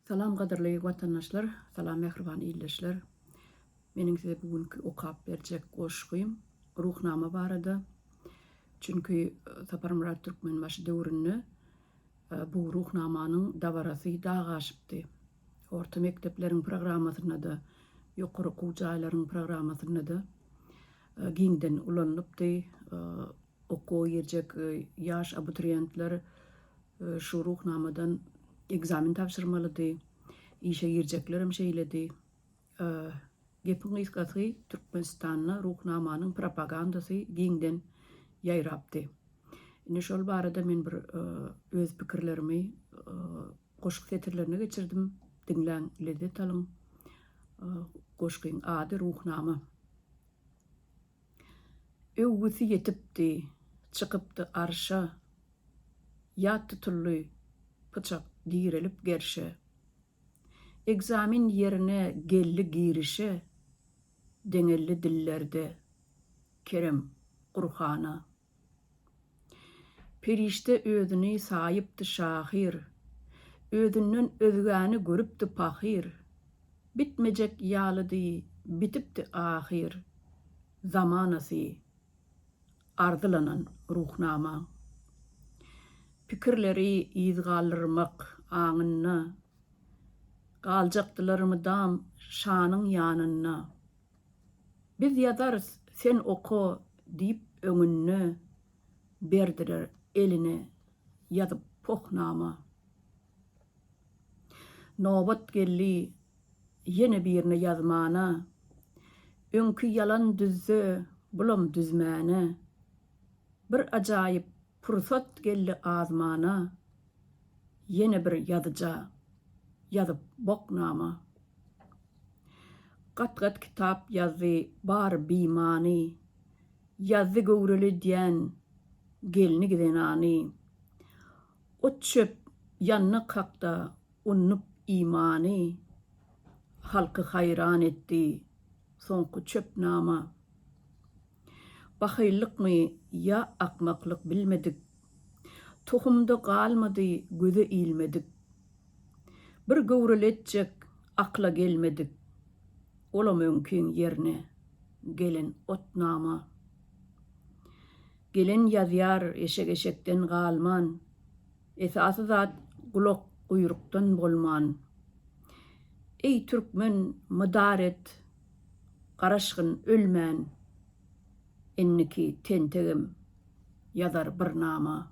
Salam gadyrly watandaşlar salam mähriban ildeşler meniň size bu günki okap berjek goşgym Ruhnama barada çünki Saparmyrat Türkmenbaşy döwründe bu Ruhnamanyň dabarasy dag aşypdy orta mekdepleriň programmasynda-da ýokary okuw jaýlaryň programmasynda-da giňden ulanylypdy Okuwa girjek ýaş abituriýentler şu Ruhnamadan ekzamen tabşyrmalydy. Işe girjeklerem şeýledi. Gepiň gysgasy, Türkmenistanda Ruhnamanyň propagandasy giňden ýaýrapdy. Indi şol barada men bir öz pikirlerimi goşgy setirlerine geçirdim. Diňläň, lezzet alyň. Goşgyň ady Ruhnama. Öwgüsi ýetipdi, çykypdy arşa, Ýat tutuldy pyçak direlip gerşe. Ekzamen ýerine geldi girişe, Deňeldi dillerde Kerem Gurhana. Perişde özüni saýypdy şahyr, Özünden özgäni görüpdi pahyr. Bitmejek ýalydy, bitipdi ahyr, Zamanasy arzylanan Ruhnama. Pikirleri yz galdyrmak aňynda, Galjakdylar mydam şanyň ýanynda. Biz ýazarys, sen oka, diýip öňünde berdiler eline ýazyp pohnama. Nobat geldi ýene birine ýazmana, öňki ýalan düzse, bulam düzmäne. Bir ajaýyp Pursat geldi azmana, Ýene bir ýazyja Ýazyp bok nama. Gat-gat kitap ýazdy Bary bimany, Ýazdy göwreli diýen Gelni-zenany. Ot-çöp ýandy kakda Unup imany, Halky haýran etdi Soňky çöp nama. Bahyllykmy ýa akmaklyk bilmedik, Tohumda galmady göze ilmedik. Bir göwreli etjek akla gelmedik, Olam öňkiň ýerine gelen otnama. Gelen ýazýar eşek eşekden galman, Esasy zat gulak guýrukdan bolman. Eý türkmen mydar et! Garaşgyn ölmän indiki tentegem ýazar bir nama.